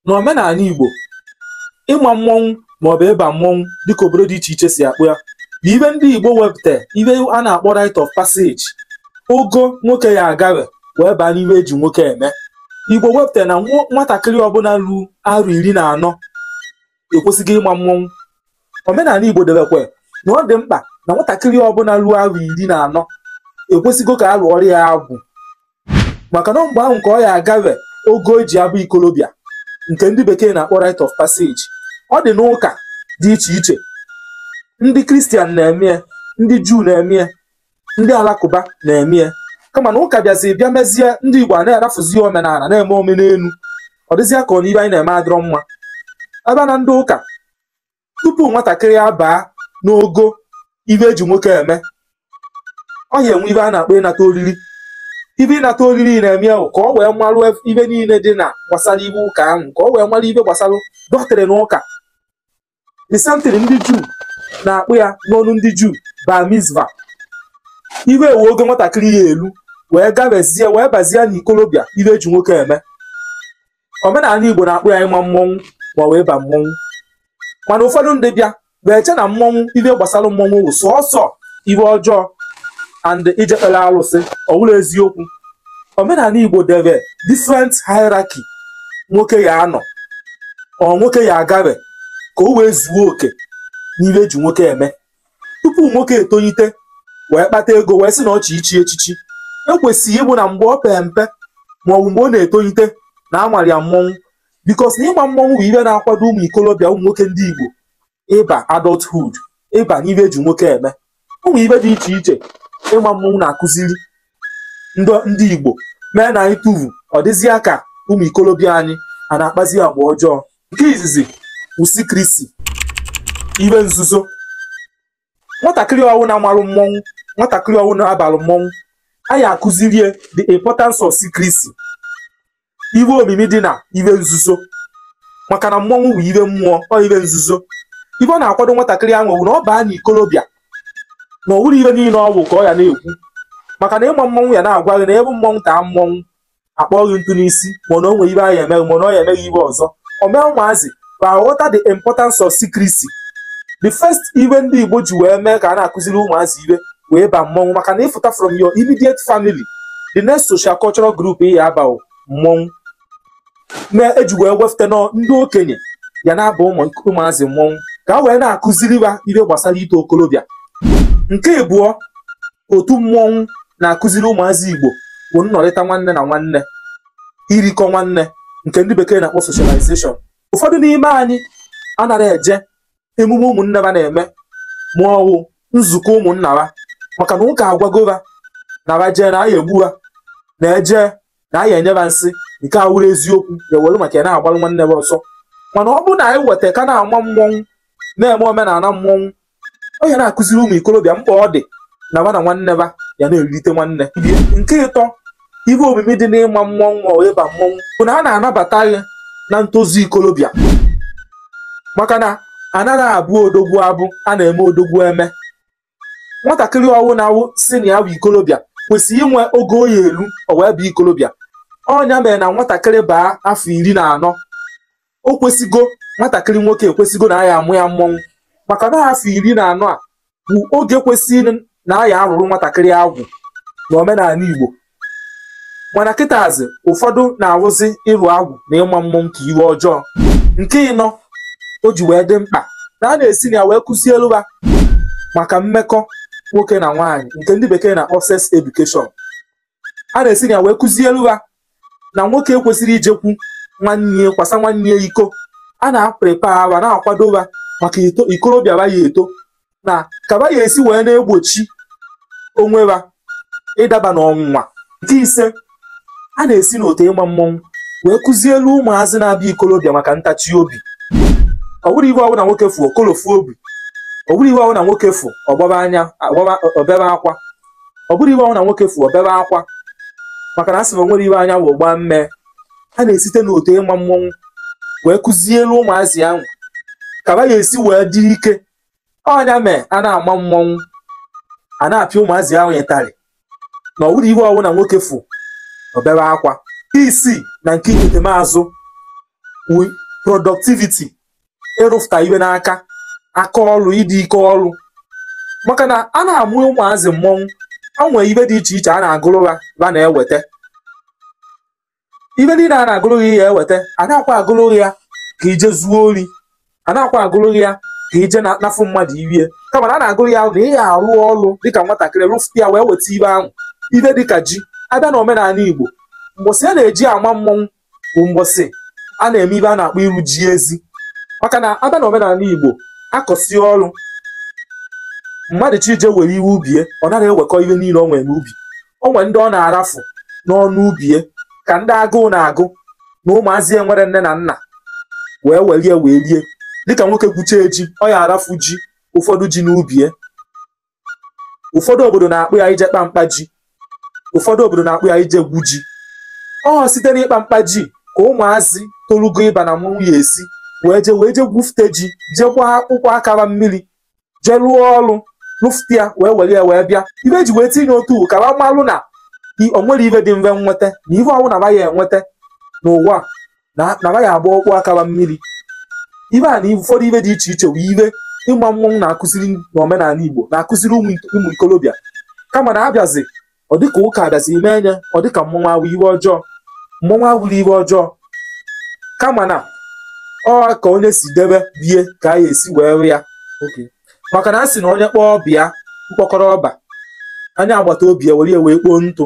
na omenala Igbo ịma mmọnwụ maọbụ ịba mmọnwụ dịka obodo dị iche iche si akpọ ya bụ ibe ndị Igbo wepụta ibe a na-akpọ rite of passage ogo nwoke ya agawe wee baa n'ibe eji nwoke eme Igbo wepụta na nwatakịrị ọbụla ruo arọ iri na anọ ekwesịgo ịma mmọnwụ omenala Igbo debekwa na ọ dị mkpa na nwatakịrị ọbụla ruo arọ iri na anọ ekwesịgo ka a lụọrọ ya agwụ maka na mgbe ahụ ka ọ ya agawe ogo eji abụ ikolobịa nke ndị bekee na-akpọ rite of passage ọ dị n'ụka dị iche iche ndị kristian na-eme ndị juu na-eme ndị alakụba na-eme ya kama na ụka bịazi bịa mezie ndị igbo a na-arafuzi omenala na-eme omenelu ọ dịzịa ka ọ n'ibe anyị na-eme adịrọ mma ebe na ndị ụka tupu nwatakịrị abaa n'ogo ibe eji nwoke eme ọ ya enwe ibe a na-akpọ ịnata oriri ibe ịnata oriri na-eme wụ ka ọ wee marụ ibe niile dị na gbasara ibe ụka ahụ ka ọ wee marụ ibe gbasara doctrine ụka the same thing ndị juu na-akpọ ya n'ọnụ ndị juu bar mitzvah iwe ewe oge nwatakịrị ya elu wee gabezie wee bazie n'ikolobịa ibe eji nwoke eme omenala igbo na-akpọ ya ịma mmọnwụ ma ọ wụ ịba mmọnwụ mana ụfọdụ ndị bịa wee che na mmọnwụ ibe gbasara mmọnwụ wụ sọsọ iwe ọjọọ and ijekpere alụsị ọ wụrọ eziokwu omenala igbo debe different hierarchy nwoke ya anọ or nwoke ya agabe ka o wee zuo oke n'ihe eji nwoke eme tupu nwoke etonyite wee kpata ego wee sị na ọ chọ ichi echichi ekwesịrị ịbụ na mgbe ọ pee mpe ma ọ bụ mgbe ọ na-etonyite na amara ya mmọnwụ because na ịma mmọnwụ bụ ihe na-akwado ụmụ ikolobịa ụmụ nwoke ndị igbo ịba adulthood ịba n'ibe eji nwoke eme ụmụ ibe dị iche iche ịma mmọnwụ na-akụziri ndị Igbo mee na anyị tụvu ọ dịzịa ka ụmụ ikolobịa anyị a na-akpazi agwa ọjọọ nke izizi wụ secrecy ibe nzuzo nwatakịrị ọwụna marụ mmọnwụ nwatakịrị ọwụna balụ mmọnwụ a ya akụzirie the importance of secrecy iwe omimi dị na iwe nzuzo maka na mmọnwụ bụ iwe mmụọ ọ iwe nzuzo ibe ọ na-akwado nwatakịrị ahụ bụ na ọ baa na ikolobịa na ọ wụrọ iwe niile ọ vụ ka ọ ya na-ekwu maka na ịma mmọnwụ ya na-agwa gị na ebe mmọnwụ taa mmọnwụ akpọ gị ntụ n'isi mana o nwere ibe a ya eme gị mana ọ ya eme gị ibe ọzọ ọ mee ụmụazị ka aghọta the importance of secrecy the first iwe ndị Igbo ji wee mee ka a na-akụziri ụmụazị iwe wụ ịba mmọnwụ maka na ịfụta from your immediate family the next social cultural group ị ya aba wụ mmọnwụ mee eji wee wefute na ọ ndị okenye ya na-aba ụmụazị mmọnwụ ka a wee na-akụziri ha ihe gbasara ito okolobịa nke abụọ otu mmọnwụ na-akụziri ụmụazị Igbo bụ nnọrịta nwanne na nwanne irikọ nwanne nke ndị bekee na-akpọ socialization ụfọdụ n'ime anyị anaghị eje emume ụmụnne ba na-eme ma ọ wụ nzukọ ụmụnna ha maka na ụka agwago ha na ha jee na a ya egbu ha na eje na a ya enye ha nsị nke awụrụ eziokwu ya were maka ya na-agbalụ nwanne ha ọsọ mana ọ bụrụ na anyị weta ka na-ama mmọnwụ na-eme omenala mmọnwụ ọ ya na-akụziri ụmụ ikolobịa mkpa ọ dị na ba na nwanne ba ya na-erite nwanne nke ịtọ ibe omimi dị n'ịma mmọnwụ ma ịba mmọnwụ bụ na a na-anabata gị na ntozu ikolobịa maka na anaghị abụ odogwu abụ a na-eme odogwu eme nwatakịrị ọwụna awụ si na ya bụ ikolobịa kwesịrị inwe ogo ọ ya eru o wee bụ ikolobịa ọ nya mere na nwatakịrị baa afọ iri na anọ o kwesịgo nwatakịrị nwoke ekwesịgo na a ya amụ ya mmọnwụ maka na afọ iri na anọ a bụ oge kwesịrị na a ya arụrụ nwatakịrị agwụ na omenala Igbo mana kịtazi ụfọdụ na-awụzi ịrụ agwụ na ịma mmọnwụ ka iwe ọjọọ nke ịnọ o ji wee dị mkpa na a na-esi na ya wee kụzielu ha maka mmekọ nwoke na nwaanyị nke ndị bekee na-akpọ sex education a na-esi na ya wee kụzielu ha na nwoke ekwesịrị ijekwu nwanne kwasa nwanne ya iko a na-aprepa ha na-akwado ha maka ikolobịa ba ya eto na ka ba ya esi wee na-egbochi onwe ha ịdaba n'ọnwụnwa nke ise a na-esi n'otu ịma mmọnwụ wee kụzielu ụmụazị na-abịa ikolobịa maka ntachi obi ọ bụrụ iwe ọwụna nwoke fụ o kolofu obi ọ bụrụ iwe ọwụna nwoke fụ ọ gbaba anya o bebe akwa ọ bụrụ iwe ọwụna nwoke fụ o bebe akwa maka na a sị na o nwere iwe anya wụ gbaa mmee a na-esite n'otu ịma mmọnwụ wee kụzielu ụmụazị ahụ ka ba ya esi wee dị ike ọ nya mee a na-ama mmọnwụ a na-apịa ụmụazị ahụ ịtarị na ọ bụrụ iwe ọwụna nwoke fụ o bebe akwa isii na nke ikete maazụ productivity ịrụfụta iwe n'aka aka ọrụ ịdị ike ọrụ maka na a na-amụ ụmụazị mmọnwụ o nwee ibe dị iche iche a na-agụrụ ha ha na-eweta ibe niile a na-agụrụ ị ya eweta anakwa agụrụ gị ya ka i je zuo ori anakwa agụrụ gị ya ka i je na- nafụ mmadụ iwie kama na a na-agụrụ ya na ị ya arụ ọrụ dịka nwatakịrị rụfụta ya wee weta ibe ahụ ibe dịka ji a bịa na omenala Igbo mgbọsị a na-eji ama mmọnwụ bụ mgbọsị a na-eme ibe a na-akpọ iru ji ezi maka na a bịa na omenala Igbo a kọsịa ọrụ mmadụ chi ije were iwe ubie ọ naghị ewekọ ihe niile o nwere n'ubi o nwere ndị ọ na-arafu n'ọnụ ubie ka ndị agụụ na-agụ na ụmụazị enwere nne na nna wee welie wee rie dịka nwoke gwuchaa ji ọ ya arafu ji ụfọdụ ji n'ubie ụfọdụ obodo na-akpọ ya ije kpa mkpa ji ụfọdụ obodo na-akpọ ya ije gwu ji ọ site n'ịkpa mkpa ji ka ụmụazị torugo ịba na mmanwụ ya esi wee je wee je gwufute ji jee gbaa akpụkpọ aka ba mmiri jee rụọ ọrụ rụfute ya wee were ya wee bịa ibe e ji wee tinye otu ka ba malụ na o nwerọ ibe dị mfe nweta na ife ọwụna ba ya enweta n'ụwa na ba ya agba akpụkpọ aka ba mmiri ibe a na ụfọdụ ibe dị iche iche bụ ibe ịgba mmọnwụ na-akụziri n'omenala Igbo na-akụziri ụmụ ụmụ ikolobịa kama na abịazi ọ dịka ụka abịazi mee ya ọ dịka mmọnwụ awụ ibe ọjọọ mmọnwụ awụrọ ibe ọjọọ kama na ọ ka onye si debe ibe ya ka a ga-esi wee rịa ya Okay. maka na a sị na onye kpọọ ọba ya mkpọkọrọ ọba onye agbata obi ya were ya wee kpoo ntụ